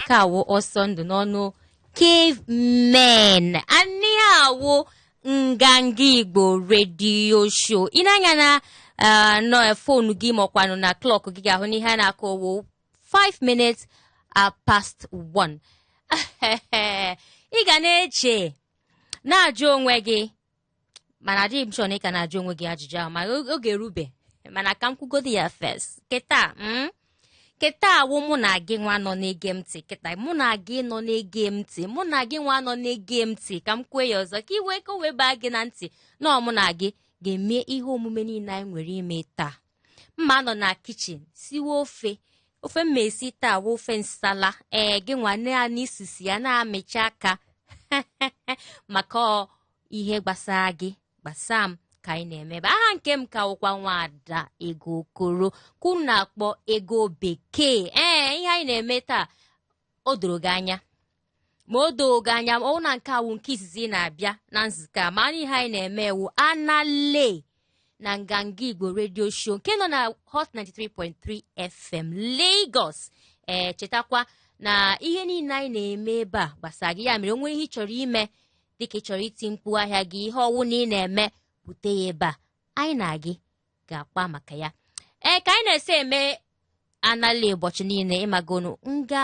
ke a wụ ọsọ ndụ n'ọnụ Cavemen and ihe a wụ nganga igbo redio show i nee anya na ah, nọ fonu gị ma ọ kwanụ na klọk gị ị ga-ahụ na ihe a na-akụ wụ 5 minutes ah past 1 ị ga na-eche na-ajụ onwe gị mana adịghị m sure na ị ka na-ajụ onwe gị ajụjụ ahụ ma oge erube mana ka m kwugodi ya fes kịta mm? kịta wụ mụ na gị nwa nọ na-ege m ntị kịta mụ na gị nọ na-ege m ntị mụ na gị nwa nọ na-ege m ntị ka m kwue ya ọzọ ka i wee ka o wee baa gị na ntị na ọ mụ na gị ga-eme ihe omume niile anyị nwere ime taa mma nọ na kichin siwe ofe ofe mma esi taa wụ ofe nsala ee gị nụa naanị isisi ya na-amịcha aka maka ihe gbasaa gị gbasaa m ka anyị na-eme ebe a aha nke m ka wụkwa nwaada Ego Okoro ke unu na-akpọ Ego Bekee ee ihe anyị na-eme taa o doro gị anya ma o doo gị anya ọ wụ na nke a wụ nke izizi ị na-abịa na nzukọ a ma anyị ihe anyị na-eme wụ anale na nganga igbo redio show nke nọ na hot 93.3 fm lagos ee chetakwa na ihe niile anyị na-eme ebe a gbasara gị ya mere o nwee ihe ị chọrọ ime dịka ị chọrọ iti mkpu ahịa gị ihe ọwụna ị na-eme bute ya ebe a anyị na gị ga-akpa maka ya ee ka anyị na-esi eme anala ụbọchị niile ị magonụ nga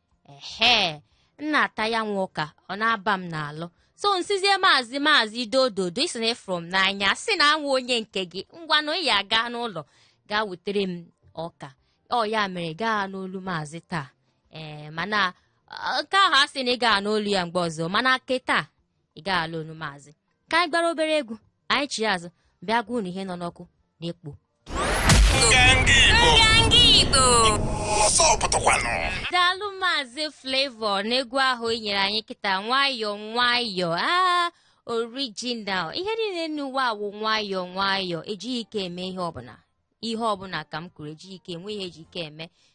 ehe m na-ata ya nwa ọka ọ na-aba m n'alụ so m sịzie maazị maazị dododo ị sị na ị fụrụ m n'anya sị na m wụ onye nke gị ngwanụ ị ya gaa n'ụlọ gaa wetere m ọka ọ ya mere ị gaa anụ olu maazị taa ee mana ọ, nke ahụ a sị na ị gaa anụ olu ya mgbe ọzọ mana ke taa ị gaa anụ olu maazị ka anyị gbara obere egwu anyị chiya azụ bịa gwa unu ihe nọ n'ọkụ na-ekpo daalụ maazị Flavour n'egwu ahụ i nyere anyị kịta nwayọọ nwayọọ aa orijinal ihe niile n'ụwa a wụ nwayọọ nwayọọ ejighị ike eme ihe ọbụla ihe ọbụla ka m kwuru ejighị ike enwe ihe e ji ike eme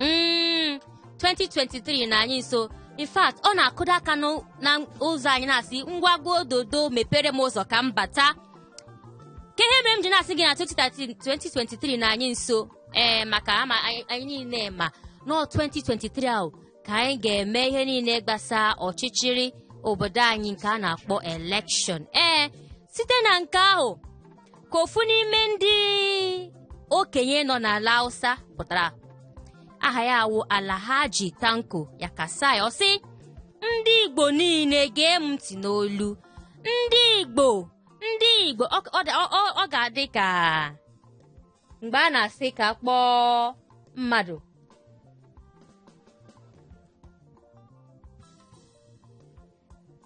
mm, 2023 nọ anyị nso in fact ọ na-akụda aka n'ụ- na ụzọ anyị na-asị ngwa ngwa ododo mepere m ụzọ ka m bata kee ihe mere m ji na-asị gị na 2013 2023 nọ anyị nso ee maka ama anyị anyị niile ma na ọ 2023 ahụ ka anyị ga-eme ihe niile gbasa ọchịchịrị obodo anyị nke a na-akpọ elekshọn ee site na nke ahụ ka ofu n'ime ndị okenye nọ n'ala Hausa pụtara aha ya wụ Alhaji Tanko Yakasai ọ sị ndị Igbo niile gee m ntị n'olu ndị Igbo ndị Igbo ọ ọ dị- ọ- ọ- ọ ga-adị ka mgbe a na-asị ka kpọọ mmadụ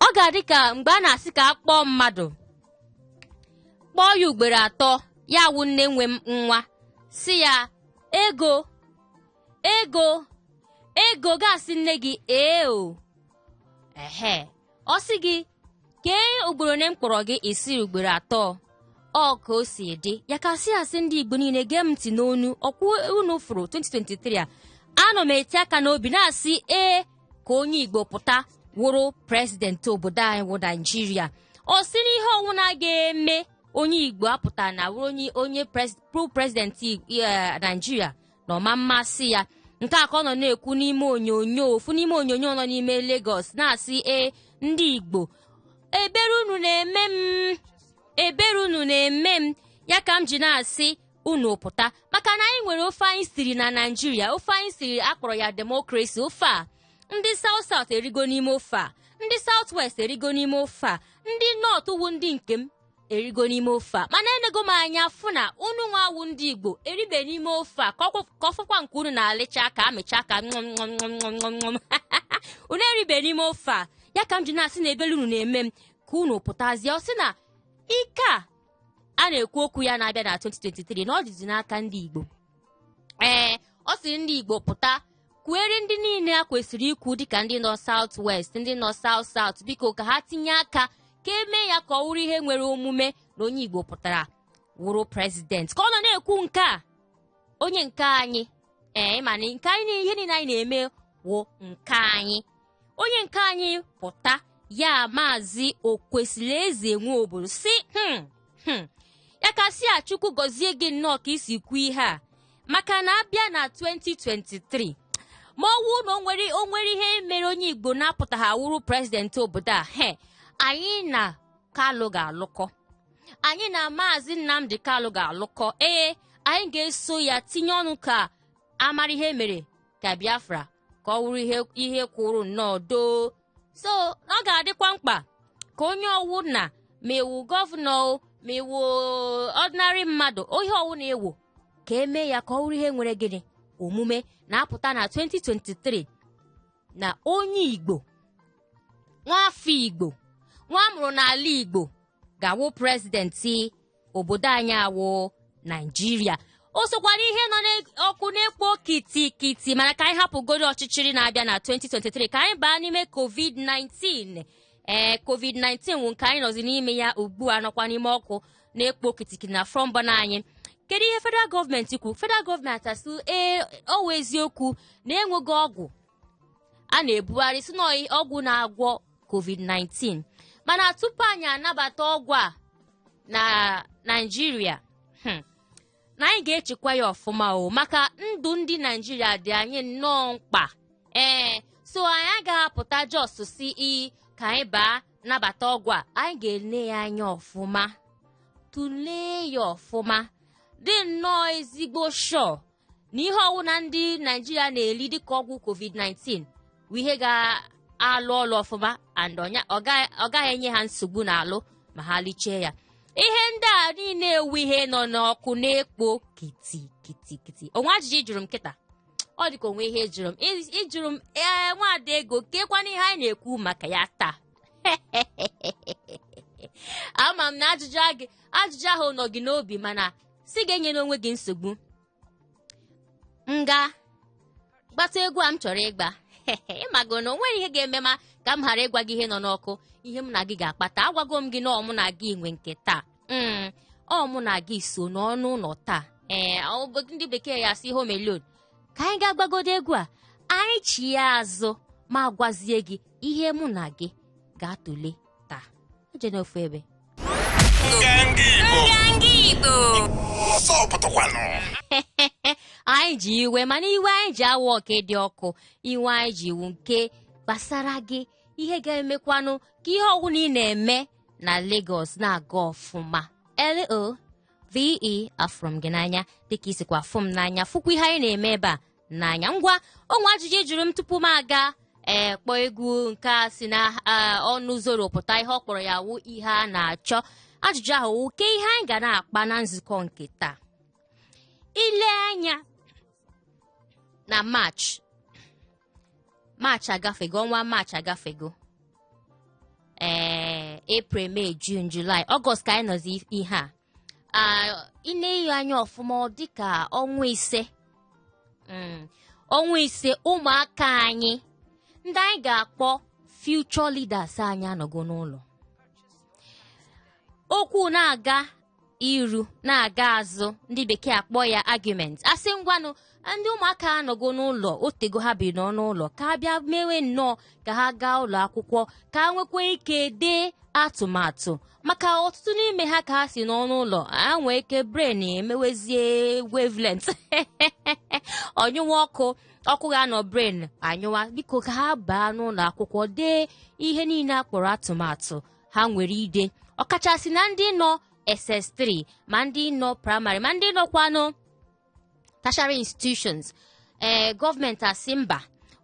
ọ ga-adị ka mgbe a na-asị ka a kpọọ mmadụ kpọọ ya ugboro atọ ya wụ nne nwe nwa sị ya ego ego ego ga-asị nne gị ee o ehe ọ sị gị kee ugboro one m kpọrọ gị ị sị ugboro atọ ọ ka o si dị Yakasai asị ndị igbo niile gee m ntị n'onu ọ kwa unu fụrụ 2023 a anọ m eti aka n'obi na-asị ee ka onye igbo pụta wụrụ prezidenti obodo anyị wụ naijiria ọ sị na ihe ọwụna ga-eme onye igbo apụtana wụrụ onye onye pru prezidenti naijiria na ọ ma amasị ya nke a ka ọ nọ na-ekwu n'ime onyonyo ofu n'ime onyonyo nọ n'ime Lagos na-asị ee ndị igbo ebere unu na-eme m ebere unu na-eme m ya ka m ji na-asị unu pụta maka na anyị nwere ofe anyị siri na naijiria ofe anyị siri a kpọrọ ya demokrasi ofe a ndị South South erigo n'ime ofe a ndị South West erigo n'ime ofe a ndị North wụ ndị nke m erigo n'ime ofe a mana enego m anya fụ na unu nwa wụ ndị igbo eribe n'ime ofe a ka ọ fọkwa nke unu na-alịcha aka amịcha aka ṅụmṅụmṅụmṅụmṅụm unu eribe n'ime ofe a ya ka m ji na-asị na ebelu unu na-eme m ka unu pụtazie ọ sị na ike a a na-ekwu okwu ya na-abịa na 2023 na ọ dịzi n'aka ndị Igbo ee ọ sịrị ndị Igbo pụta kwuere ndị niile a kwesịrị ikwu dịka ndị nọ South West ndị nọ South South biko ka ha tinye aka ka e mee ya ka ọ wụrụ ihe nwere omume na onye Igbo pụtara wụrụ prezidenti ka ọ nọ na-ekwu nke a onye nke anyị ee ịma na nke anyị ihe niile anyị na-eme wụ nke anyị onye nke anyị pụta ya maazị Okwesilieze Nwobodo sị "Hmm, hmm, Yakasai chukwu gọzie gị nnọọ ka i si kwuo ihe a maka na a bịa na 2023 ma ọ wụ na o nwere o nwere ihe mere onye igbo na-apụtaghị awụrụ prezidenti obodo a he anyị na kalụ ga-alụkọ anyị na maazị nnamdi kalụ ga-alụkọ ee anyị ga-eso ya tinye ọnụ ka a mara ihe mere ka biafra ka ọ wụrụ ihe ihe kwụrụ nnọọ doo so ọ ga-adịkwa mkpa ka onye ọwụna ma ị wụ gọvanọ o, ma ị wụ ordinary mmadụ ihe ọwụna ị wụ ka e mee ya ka ọ wụrụ ihe nwere gịnị omume na-apụta na 2023 na onye igbo nwaafọ igbo nwa a mụrụ n'ala igbo ga-awụ prezidenti obodo anyị awụ naijiria o sokwara ihe nọ n'ọkụ na-ekpo kitikiti mana ka anyị hapụgoro ọchịchịrị na-abịa na 2023 ka anyị baa n'ime covid-19 ee covid-19 wụ nke anyị nọzi n'ime ya ugbu a nọkwa n'ime ọkụ na-ekpo kitikiti na front burner anyị kedu ihe federal gọọmenti kwuru federal gọọmenti asị ee ọ wụ eziokwu na enweghị ọgwụ a na-ebugharị si na ọgwụ na-agwọ covid-19 mana tupu anyị anabata ọgwụ a na naijiria hmm, na anyị ga-echekwa ya ọfụma o maka ndụ ndị naijiria dị anyị nnọọ mkpa ee so anyị agaghị apụta just sị ka anyị baa nabata ọgwụ a anyị ga-ele ya anya ọfụma tụlee ya ọfụma dị nnọọ ezigbo sure na ihe ọwụna ndị naijiria na-eli dịka ọgwụ covid-19 bụ ihe ga-alụ ọlụ ọfụma and ọnya- ọ ga- ọ gaghị enye ha nsogbu n'alụ ma ha liche ya ihe ndị a niile wụ ihe nọ n'ọkụ na-ekpo kiti kiti kiti o nwe ajụjụ ị jụrụ m kịta ọ dịka o nwe ihe ị jụrụ m Ị- ị jụrụ m ee nwada ego kekwanụ ihe anyị na-ekwu maka ya taa ama m na ajụjụ a gị- ajụjụ ahụ nọ gị n'obi mana sị gị enyela onwe gị nsogbu m ga gbata egwu a m chọrọ ịgba ị mago na o nwere ihe ga-eme ma ka m ghara ịgwa gị ihe nọ n'ọkụ ihe m na gị ga-akpa taa agwago m gị na ọ mụ na gị nwe nke taa Mm, ọ mụ na gị sọ nọ n'ụlọ taa ee ọ- ndị bekee ya-asị home alone ka anyị gaa gbagodo egwu a anyị chie azụ m agwazie gị ihe mụ na gị ga-atụle taa ejena ofu ebe anyị ji iwe mana iwe anyị ji awọ nke dị ọkụ iwe anyị ji wụ nke gbasara gị ihe ga-emekwanụ ka ihe ọwụna ị na-eme na Lagos na-aga ọfụma L O V E afụrụ m gị n'anya dịka i sikwa afụ m n'anya fụkwa ihe anyị na-eme ebe a n'anya ngwa o nwe ajụjụ ị jụrụ m tupu m aga ee kpọọ egwu nke a si na ah, ọnụ zoro pụta ihe ọ kpọrọ ya wụ ihe a na-achọ ajụjụ ahụ wụ ke ihe anyị ga na-akpa na nzukọ nke taa i lee anya na march march agafego ọnwa march agafego ee april may june july august ka anyị nọzi ihe a i nee ya anya ọfụma ọ dịka ọnwa ise Mm, ọnwa ise ụmụaka anyị ndị anyị ga-akpọ future leaders anyị anọgo n'ụlọ okwu na-aga iru na-aga azụ ndị bekee akpọ ya argument asị ngwanụ ndị ụmụaka anọgo n'ụlọ otego ha bi nọ n'ụlọ ka a bịa mewe nnọọ ka ha gaa ụlọ akwụkwọ ka ha nwekwa ike dee atụmatụ maka ọtụtụ n'ime ha ka ha si nọ n'ụlọ ha nwee ike brain emewezie wavelength ọ nyụwa ọkụ ọkụ ga-anọ brain anyụwa biko ka ha baa n'ụlọ akwụkwọ dee ihe niile a kpọrọ atụmatụ ha nwere ide ọkachasị na ndị nọ ss3 ma ndị nọ praịmarị ma ndị nọkwanụ tertiary institutions ee gọọmenti asị mba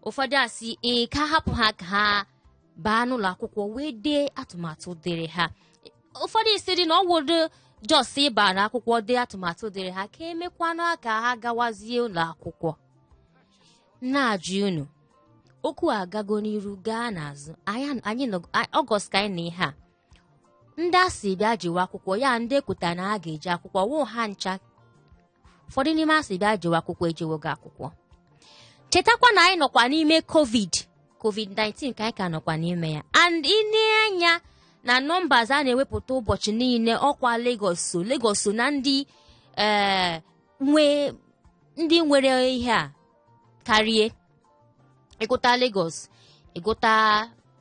ụfọdụ asị ee ka a hapụ ha ka ha baa n'ụlọ akwụkwọ wee dee atụmatụ dịrị ha ụfọdụ asị dị na ọ wụrọ just ịba n'akwụkwọ dee atụmatụ dịrị ha ka e mekwanụ ka ha gawazie ụlọ akwụkwọ na-ajụ unu okwu agago n'iru gaa n'azụ anyị nọ August ka anyị nọ ihe a ndị a sị bịa jewe akwụkwọ ya ndị ekwuta na ha ga-eje akwụkwọ wụ ha ncha ụfọdụ n'ime a sị bịa jewe akwụkwọ ejewogo akwụkwọ chetakwa na anyị nọkwa n'ime covid covid-19 ka anyị ka nọkwa n'ime ya and i nee anya na numbers a na-ewepụta ụbọchị niile ọkwa Lagos so Lagos so na ndị ee nwe ndị nwere ihe a karịa ị gụta Lagos ị gụta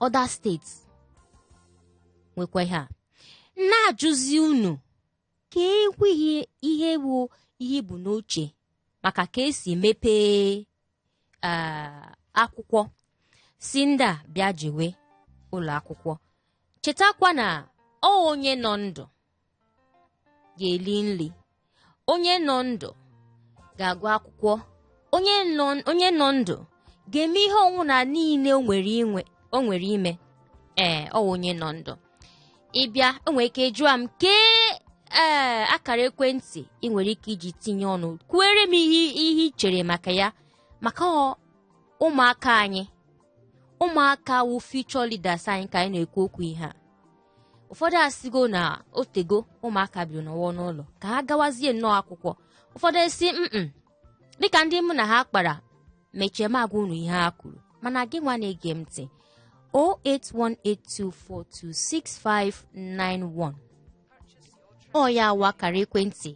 other states nwekwa ihe a na-ajụzi unu ka ekweghị ihe bụ ihe bụ n'uche maka ka e si mepee akwụkwọ sị ndị a bịa jewe ụlọ akwụkwọ chetakwa na ọ onye nọ ndụ ga-eli nri onye nọ ndụ ga-agụ akwụkwọ onye nọ onye nọ ndụ ga-eme ihe ọnwụna niile o nwere inwe o nwere ime ee ọ wụ onye nọ ndụ ị bịa o nwere ike jụọ m kee ee akara ekwentị ị nwere ike iji tinye ọnụ kwuere m ihe ihe i chere maka ya maka ọ ụmụaka anyị ụmụaka wụ future leaders anyị ka anyị na-ekwu okwu ihe a ụfọdụ asịgo na otego ụmụaka biri nọwa n'ụlọ ka ha gawazie nnọọ akwụkwọ ụfọdụ asị mm dịka ndị mụ na ha kpara mechaa m agwa unu ihe ha kwuru mana gị nwa na-ege m ntị 08182426591 ọ ya wụ akara ekwentị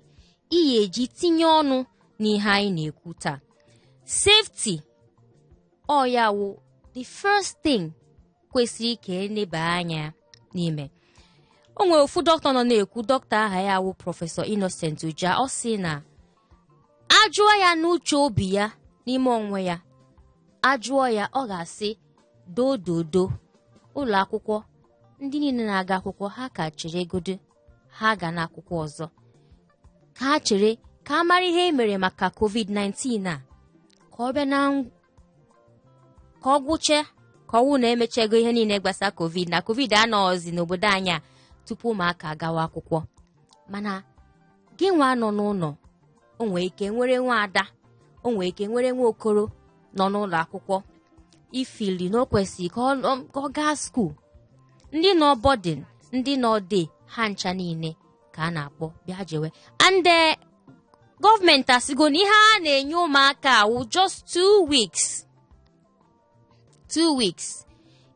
ị ya-eji tinye ọnụ n'ihe anyị na-ekwu taa safety ọ ya wụ the first thing kwesịrị ka e neba anya n'ime o nwere ofu dọkịta nọ na-ekwu dọkịta aha ya wụ prọfesọ Innocent Ujah ọ sị na a jụọ ya n'uche obi ya n'ime onwe ya a jụọ ya ọ ga-asị dododo ụlọ akwụkwọ ndị niile na-aga akwụkwọ ha ka cheregodo ha agana akwụkwọ ọzọ ka ha chere ka a mara ihe e mere maka covid-19 a ka ọ bịa na ka ọ gwụche ka ọ wụ na e mechego ihe niile gbasa covid na covid anọghịzi n'obodo anyị a tupu ụmụaka agawa akwụkwọ mana gị nwa nọ n'ụlọ o nwere ike i nwere nwa ada o nwere ike i nwere nwa okoro nọ n'ụlọ akwụkwọ i feel na o kwesịrị ka ọ nọ- ka ọ gaa school ndị nọ boarding ndị nọ day ha ncha niile ka a na-akpọ bịa jewe and eh, government asịgo na ihe a na-enye ụmụaka a wụ just two weeks two weeks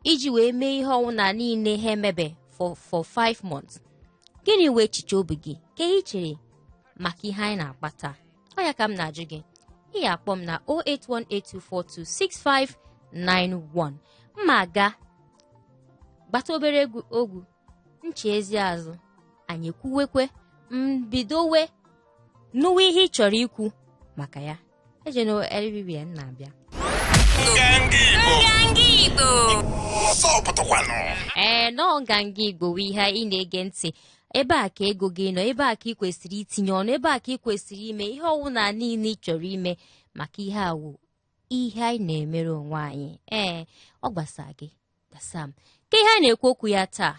iji wee mee ihe ọwụna niile ha emebe for for five months gịnị wụ echiche obi gị ke ihe i chere maka ihe anyị na-akpa taa ọ ya ka m na-ajụ gị ị ya-akpọ m na 08182426591 m ma-aga gbata obere egwu ọ gwụ m chiezie azụ anyị kwuwekwe m bidowe nụwa ihe ị chọrọ ikwu maka ya ejena eribibia m na-abịa ee na ọ Nganga Igbo wụ ihe ị na-ege ntị ebe a ka ego gị nọ ebe a ka i kwesịrị itinye ọnụ ebe a ka i kwesịrị ime ihe ọwụna niile ị chọrọ ime maka ihe a wụ ihe anyị na-emere onwe anyị ee ọ gbasa gị gbasa m ke ihe a na-ekwu okwu ya taa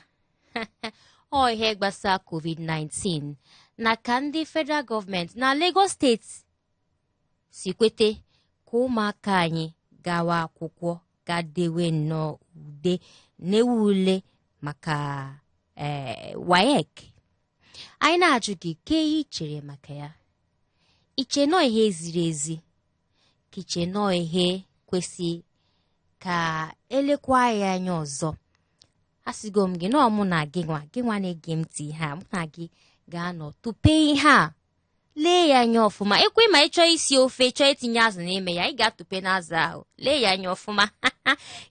ọ ihe gbasa covid-19 na ka ndị federal government na Lagos State si kwete ka ụmụaka anyị gawa akwụkwọ gaa dewe nnọọ ude na-ewu ule maka ee WAEC anyị na-ajụ gị ke ihe i chere maka ya i che na ọ ihe ziri ezi ka i che na ọ ihe kwesị ka e lekwa ya anya ọzọ asịgo m gị na ọ mụ na gị nwa gị nwa na-ege m ntị ihe a mụ na gị ga-anọ tụpee ihe a lee ya anya ọfụma ekwe ma ị chọọ isi ofe chọọ itinye azụ n'ime ya ị ga-atụpe n'azụ ahụ lee ya anya ọfụma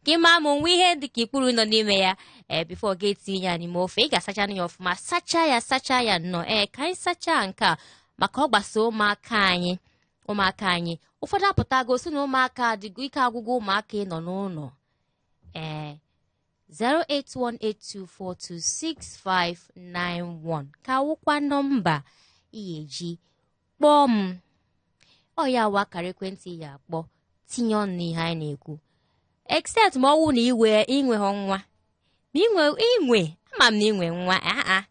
ka ị maa ma o nwe ihe dị ka ikpuru nọ n'ime ya ee before gị etinye ya n'ime ofe ị ga-asacha ya ọfụma sachaa ya sachaa ya nnọọ ee ka anyị sachaa nke a maka ọ gbasa ụmụaka anyị ụmụaka anyị ụfọdụ apụtago sị na ụmụaka adịgo ike agwụgo ụmụaka ịnọ n'ụlọ ee 08182426591 ka wụkwa nọmba ị ya-eji kpọọ m ọ ya wụ akara ekwentị ị ya-akpọ tinye ọnụ n'ihe anyị na-ekwu except ma ọ wụ na i nwe i nweghọ nwa ma inwe inwe ama m na inwe nwa aa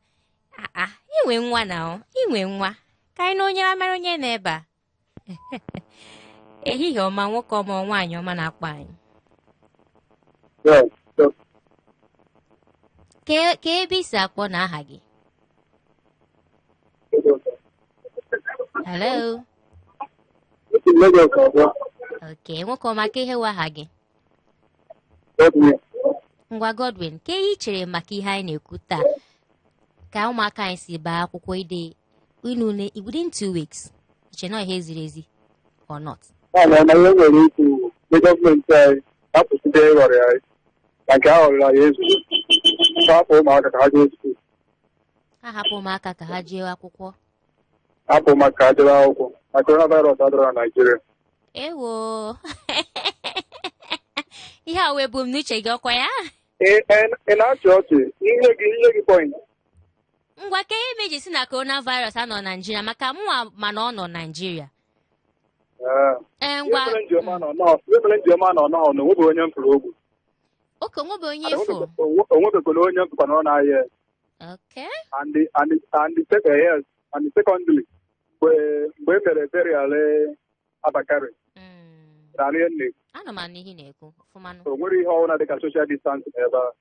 aa inwe nwa na ọ inwe nwa ka anyị na onye amara onye nọ ebe a ehihie ọma nwoke ọma or nwaanyị ọma na-akpọ anyị kee kee ebe i si akpọ na aha gị hello okay nwoke ọma kee ihe wụ aha gị ngwa godwin kee ihe i chere maka ihe anyị na-ekwu taa ka ụmụaka anyị si baa akwụkwọ ide inu ule within two weeks i che na ọ ihe ziri ezi or not mana na ihe m nwere ikwu ndị gọọmenti anyị hapụzie ịghọri anyị na nke a ghọriri anyị ezu hapụ ụmụaka ka ha jee skuul ha hapụ ụmụaka ka ha jee akwụkwọ hapụ ụmụaka ka ha jebe akwụkwọ na coronavirus adịrọ na naijiria ewo ihe a wee bụ m n'uche gị ọkwa ya ị na-achị ọchị ihe gị ihe gị point ngwa kee ihe mere i ji sị na coronavirus anọ naijiria maka mụnwa ma na ọ nọ naijiria ee ngwa ihe mere m ji ama na ọ nọọ ihe mere m ji ama na ọ nọọ na o nwebe onye m fụrụ o gbu okay o nwebe onye ị fụ o nwebekwana onye m fụkwa na ọ na-arịa ya. okay and the and the and the second yes and the secondly mgbe mgbe e mere burial Abba Kyari Mm. rarịa nne Ana m anụ ihe ị na-ekwu ọfụma nụ. o nwere ihe ọbụla dịka social distance n'ebe a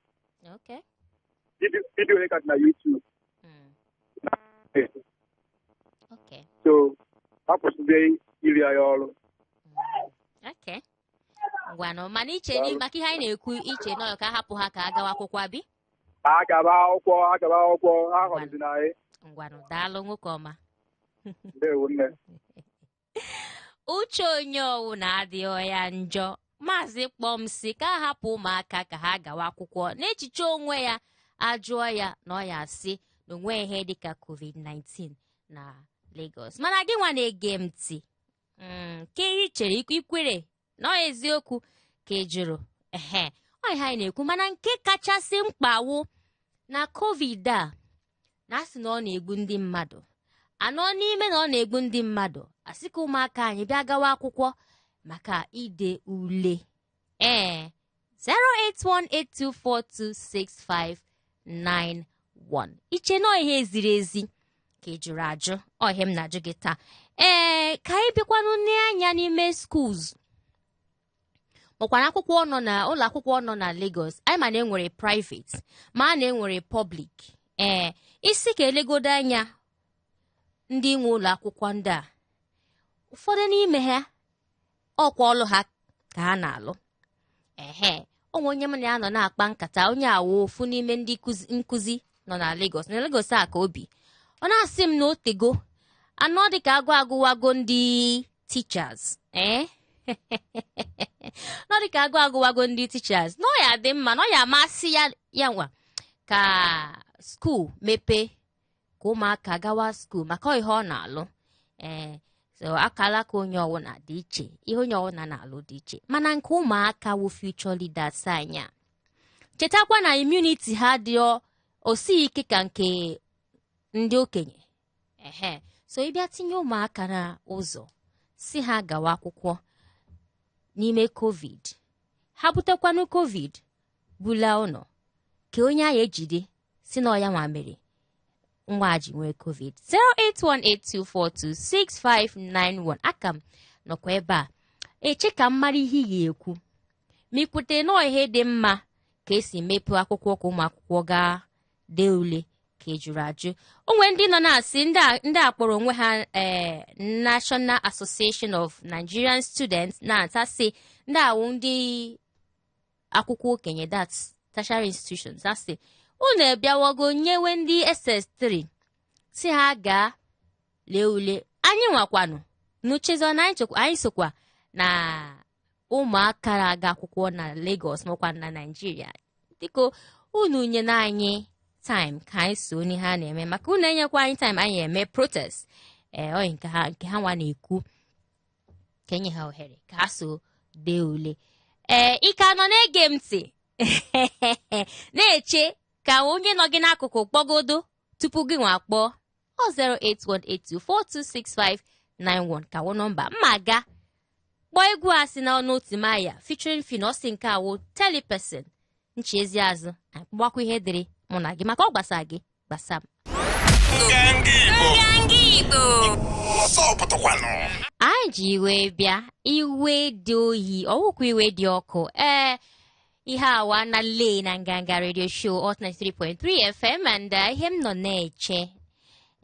Okay. Vidio- vidio ya ka dị na YouTube Mm. Okay. so a kwụsịzie iri anyị ọrụ Okay. Ngwanụ mana iche Daalụ. maka ihe anyị na-ekwu i che na ọ ka a hapụ ha ka ha gawa akwụkwọ abi. ha gaba akwụkwọ ha gaba akwụkwọ a ghọrizina anyị ngwanụ daalụ nwoke ọma ndewo nne uche onye ọwụna adịghọ ya njọ maazị kpọ m sị ka a hapụ ụmụaka ka ha gawa akwụkwọ n'echiche onwe ya ajụọ ya na ọ ya sị na o nwe ihe dịka covid-19 na Lagos mana gị nwa na-ege m ntị Mm, kee ihe i chere i kwe- i kwere na ọ eziokwu ka ị jụrụ ehe ọ ihe anyị na-ekwu mana nke kachasị mkpa wụ na covid a na-asị na ọ na-egbu ndị mmadụ a nọ n'ime na ọ na-egbu ndị mmadụ a sị ka ụmụaka anyị bịa gawa akwụkwọ maka ide ule ee 08182426591 iche na ihe ziri ezi ka ejụrụ ajụ ọ ihe m na-ajụ gị taa ee ka anyị bịakwanụ nee anya n'ime schools makwara akwụkwọ nọ na ụlọ akwụkwọ nọ na Lagos anyị ma na enwere private ma na enwere public ee ị sị ka elegodo anya ndị nwe ụlọ akwụkwọ ndị a ụfọdụ n'ime ha ọkwa ọlụ ha ka ha na-alụ ehe o nwe onye m na ya nọ na-akpa nkata onye a wụ ofu n'ime ndị kuzi- nkụzi nọ na Lagos na Lagos a ka obi ọ na-asị m na o tego anọ dịka agụụ agụwago ndị teachers ee nọ dịka agụụ agụwago ndị teachers na ọ ya-adị mma na ọ ya-amasị ya ya nwa ka school mepee ka ụmụaka gawa school maka ihe ọ na-alụ ee so akalaka onye ọwụna dị iche ihe onye ọwụna na-alụ dị iche mana nke ụmụaka wụ future leaders anyị a chetakwa na immunity ha dị o sighi ike ka nke ndị okenye ehe so ị bịa tinye ụmụaka na ụzọ sị ha gawa akwụkwọ n'ime covid ha butekwanụ covid bula ụnọ kee onye a ya-ejide sị na ọ ya nwa mere nwa a ji nwee covid 08182426591 a ka m nọkwa ebe a eche ka m mara ihe ị ga-ekwu ma i kwete na ọ ihe dị mma ka esi mepee akwụkwọ ka ụmụ akwụkwọ gaa dee ule ka ejụrụ ajụ o nwe ndị nọ na-asị ndị a- ndị a kpọrọ onwe ha eh, National Association of Nigerian Students NANS ndị a wụ ndị akwụkwọ okenye that's tertiary institutions ha sị unu abịawago nyewe ndị ss3 sị ha gaa lee ule anyị nwakwanụ unu echezọ na anyị sokwa na ụmụaka na-aga akwụkwọ na Lagos makwa na Nigeria dịka unu nyenụ anyị time ka anyị so n'ihe a na-eme maka unu enyekwa anyị time anyị eme protest ee eh, nke ha nwa na-ekwu ka enye ha ohere ka ha so dee ule ee ị ka nọ na-ege m ntị na-eche ka onye nọ gị n'akụkụ kpọgodo tupu gị nwa kpọọ ọ 08182426591 ka wụ nọmba m a ga-akpọ egwu a si n'ọnụ Timaya featuring Phyno sị nke a wụ Telli Person nchi ezi azụ anyị kpọgbakwa ihe dịrị mụ na gị maka ọ gbasa gị gbasa m anyị ji iwe bịa iwe dị oyi ọ wụkwa iwe dị ọkụ ee ihe awa na lee na nganga radio show hot 93.3 fm and uh, ihe m nọ na-eche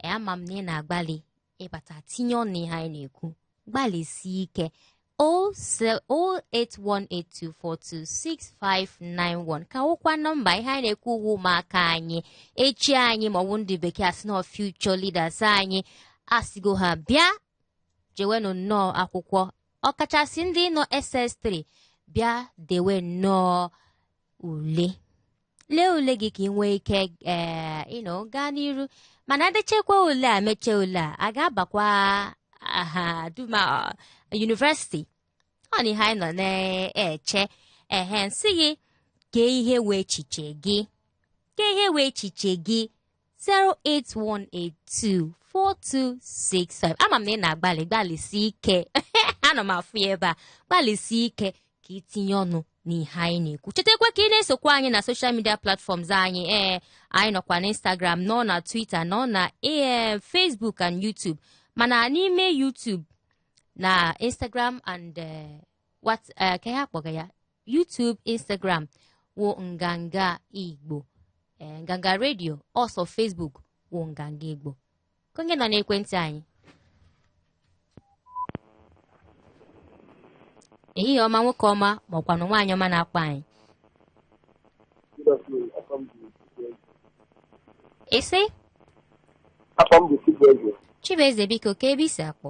ee, ama m na ị na-agbalị ịbata tinye ọnụ n'ihe anyị na-ekwu gbalịsie ike 08182426591 ka wụkwa nọmba ihe anyị na-ekwu wụ ụmụaka anyị echi anyị maọbụ ndị bekee asị na future leaders anyị asịgo ha bịa jewenụ nnọọ akwụkwọ ọkachasị ndị nọ SS3 bịa dewe nnọọ ule lee ule gị ka ị nwee ike ee you know gaa n'iru mana e dechekwa ule a mechie ule a a ga-abakwa mahadum university ọ na ihe anyị nọ na-eche ehe m sị gị kee ihe wụ echiche gị kee ihe wụ echiche gị 081824265 ama m na ị na-agbalị gbalịsi ike ana m afụ ya ebe a gbalịsi ike ka itinye ọnụ n'ihe anyị na-ekwu chetakwa ka ị na-esokwa anyị na social media platforms anyị ee anyị nọkwa na instagram nọ na twitter nọ na ee facebook and youtube mana n'ime youtube na instagram and eh, what eh, kee ihe a kpọga ya YouTube Instagram wụ nganga igbo ee nganga radio ọ sọ Facebook wụ nganga igbo kee onye nọ n'ekwentị anyị ehihie ọma nwoke ọma maọkwanụ nwaanyị ọma na-akpọ anyị isi Aha m bụ Chibueze. Chibueze biko kee ebe i si akpọ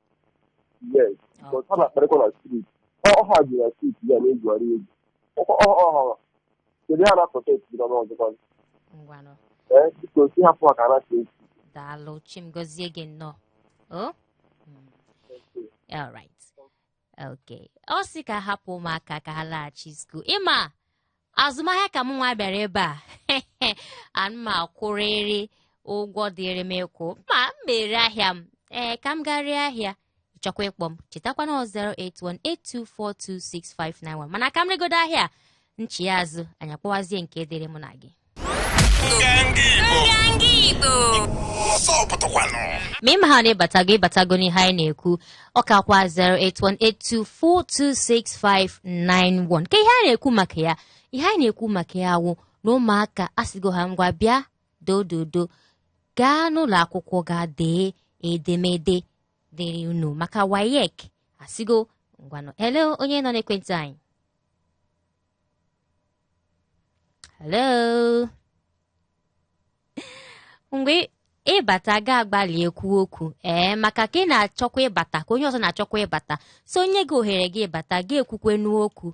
yes but ha na-akparịkwa na street ọ ha ji na street ya na-egwughari egwu ọkwa ọ ọ ha kedu ha na-apụta esi na n'ọzọkwa ngwanụ ee biko sị hapụ ha ka ha na-esi esi daalụ chi m gọzie gị nnọọ o Mm. All right. Okay. Ọ sị ka hapụ ụmụaka ka ha laghachi school. Ị ma azụmahịa ka m nwa bịara ebe a ana m akwụrịrị ụgwọ dịrị m ịkwụ ma m mere ahịa m ee ka m ga ree ahịa chọkwa ịkpọ m chetakwa na 08182426591 mana ka m regodo ahịa m chigha azụ anyị akpọwazie nke dịrị mụ na gị ma ị ma ha na ị batago ị batago n'ihe anyị na-ekwu ọ ka kwa 08182426591 ka ihe a na-ekwu maka ya ihe anyị na-ekwu maka ya wụ na ụmụaka asịgo ha ngwa bịa dododo gaa n'ụlọ akwụkwọ ga dee edemede dịrị unu maka WAEC asịgo ngwanụ elee onye nọ n'ekwentị anyị hello mgbe ị bata gị agbalị ekwu okwu ee maka ka ị na-achọkwa ịbata ka onye ọzọ na-achọkwa ịbata so e nye gị ohere gị ịbata gị ekwukwe n'okwu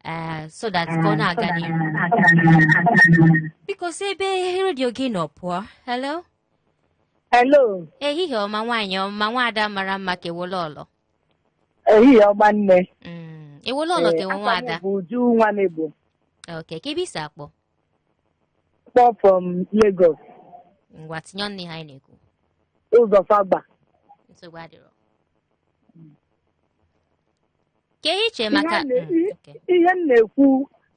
ee so that ka ọ na-aga n'ihu biko si ebe redio gị nọ pụọ hello Hello, ehihie ọma nwaanyị ọma nwaada mara mma ka ewole ọlọ ehihie ọma nne. Mm, ewole ọlọ ka ewe Ee, aha m nwaada bụ Uju nwa m Igbo. ok kee ebe i si akpọ Akpọ from Lagos. ngwa tinye ọnụ n'ihe anyị na-ekwu Ụzọ Fagba. nsogbu adịrọ kee ihe i che maka Ihe a na- Mm, okay. Ihe m na-ekwu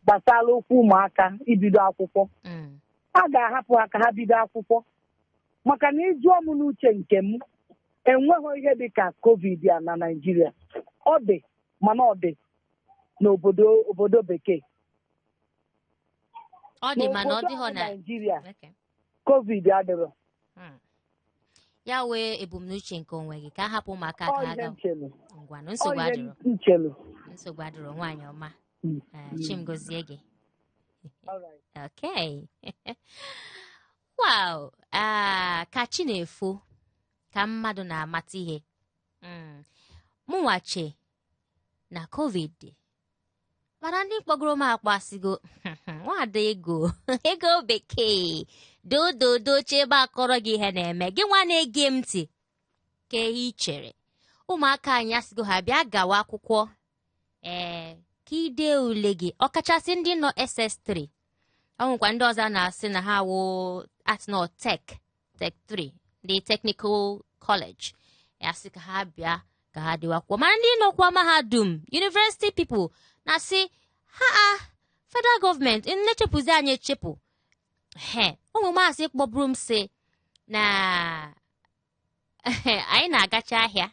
gbasara okwu ụmụaka ibido akwụkwọ. Mm, A ga-ahapụ ha ka ha bido akwụkwọ. Maka na ị jụọ m n'uche nke m, enweghị ihe dị ka COVID a na Naịjirịa. Ọ dị mana ọ dị n'obodo bekee. ọ dị mana ọ N'obodo dịghọ anyị na Naijiria Okay. covid adịrọ Mm. ya wụ ebumnuche nke onwe gị ka a hapụ ụmụaka ka ọ ha ihe ga m chelu ngwanụ ọ nsogbu ihe adịrọ m chelu nsogbu adịrọ nwaanyị ọma Mm. Eh, Chi m gozie gị Alright. Okay. wow. Ah, ka chi na-efo ka mmadụ na-amata ihe. Mm. Mụnwa che na COVID mana ndị kpọgoro m akpọ asịgo nwada Ego Bekee dododo oche ebe a kọrọ gị ihe na-eme gị nwa na-ege m ntị kee ihe i chere ụmụaka anyị asịgo ha bịa gawa akwụkwọ ee ka ide ule gị ọkachasị ndị nọ SS3 ọ nwekwa ndị ọzọ na-asị na ha wụ ha nọ Tech Tech 3 ndị technical college a sị ka ha bịa ka ha dewakwuo mana ndị nọkwa mahadum university people na-asị ha a federal government na-echepụzi anyị echepụ he o nwe maazị kpọburu m sị na anyị na-agacha ahịa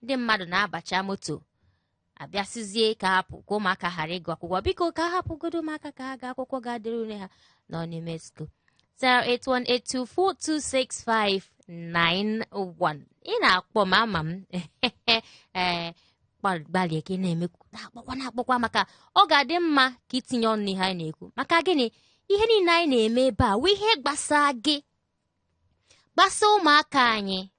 ndị mmadụ na-abacha moto a bịa sịzie ka a hapụ ka ụmụaka ghara ịgụ akwụkwọ biko ka hapụgodo ụmụaka ka ha gaa akwụkwọ ga dere ule ha nọ n'ime school 08182426591 ị na-akpọ m ama m ee gbalịa ka ị na-eme na-akpọkwa na-akpọkwa maka ọ ga-adị mma ka i tinye ọnụ n'ihe anyị na-ekwu maka gịnị ihe niile anyị na-eme ebe a wụ ihe gbasa gị gbasa ụmụaka anyị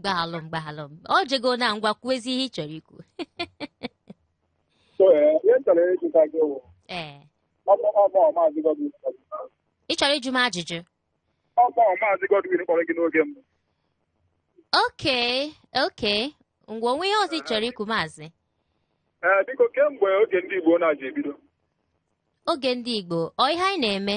gbaghalụ m gbaghalụ ọ jego na ngwa kwuezi ihe ị chọrọ ikwu ee ị chọrọ ịjụ m ajụjụ okay okay ngwa o nwe ihe ọzọ ị chọrọ ikwu maazị biko ke mgbe oge ndị Igbo na-eji ebido oge ndị Igbo ọ ihe anyị na-eme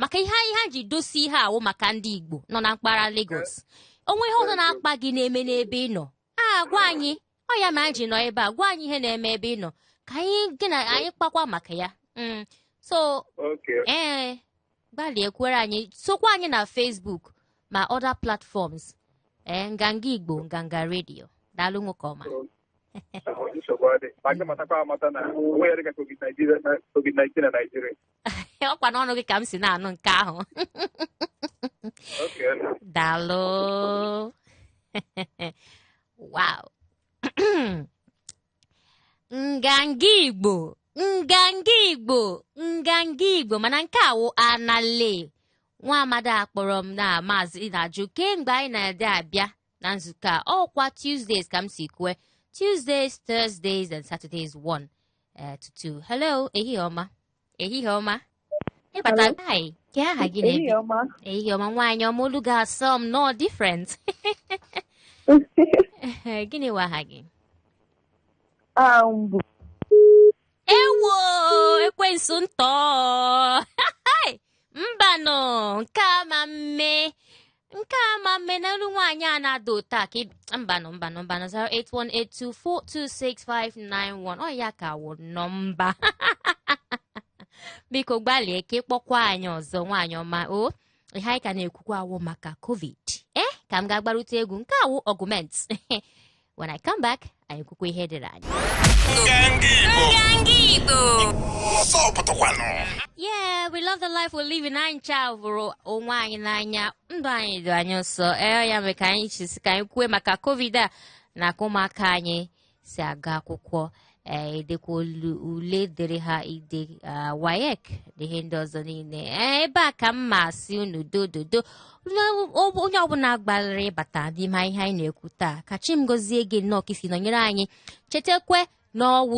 maka ihe anyị ha ji dosi ihe a wụ maka ndị Igbo nọ na mpaghara Lagos o nwe ihe ọzọ na-akpa gị na-eme n'ebe ị nọ a gwa anyị ọ ya mere anyị ji nọ ebe a gwa anyị ihe na-eme ebe ị nọ ka anyị gị na anyị kpakwa maka ya mm. so ee eh, gbalịa ekwere anyị sokwa anyị na Facebook ma other platforms ee eh, nganga Igbo nganga redio daalụ nwoke ọma nsogbu adị ma gị matakwa amata na onwe ya dịka covid-19 na Naịjirịa ọ kwa n'ọnụ gị ka m si na-anụ nke ahụ Okay. daalụ wow nganga igbo nganga igbo nganga igbo mana nke a wụ anale nwa amadi a kpọrọ m na maazị na-ajụ ke mgbe anyị na-adị abịa na nzukọ a ọ kwa Tuesdays ka m si kwue Tuesdays Thursdays and Saturdays one uh, to two hello ehihie ọma ehihie ọma ịbata hi ke aha gị na ebe i Ehihie ọma. ehihie ọma nwaanyị ọma olu gị asọ m nọ different gịnị wụ aha gị Ah, mbụ. ewo ekwensu ntọọ mbanụ nke a ama mme nke a ama mme na olu nwaanyị a na-ada ụtọ a ka ị- mbanụ mbanụ mbanụ 08182426591 ọ ya ka wụ nọmba biko gbalịa ka ị kpọkwa anyị ọzọ nwaanyị ọma o ihe anyị ka na-ekwukwa wụ maka covid ee ka m gaa gbarụtụ egwu nke a wụ argument When I come back, anyị kwukwa ihe dịrị anyị. Yeah, we love the life we live in anyị ncha hụrụ onwe anyị n'anya ndụ anyị dị anyị nsọ ee ya mere ka anyị ji sị ka anyị kwue maka covid a na ka ụmụaka anyị si aga akwụkwọ ee edekwa olu- ule dịrị ha ide ah, WAEC na ihe ndị ọzọ niile ee ebe a ka m ma asị unu dododo Unu- ọ- onye ọbụla gbalịrị ịbata n'ime ihe anyị na-ekwu taa ka chi m gozie gị nnọọ ka i si nọnyere anyị chetakwe na ọ wụ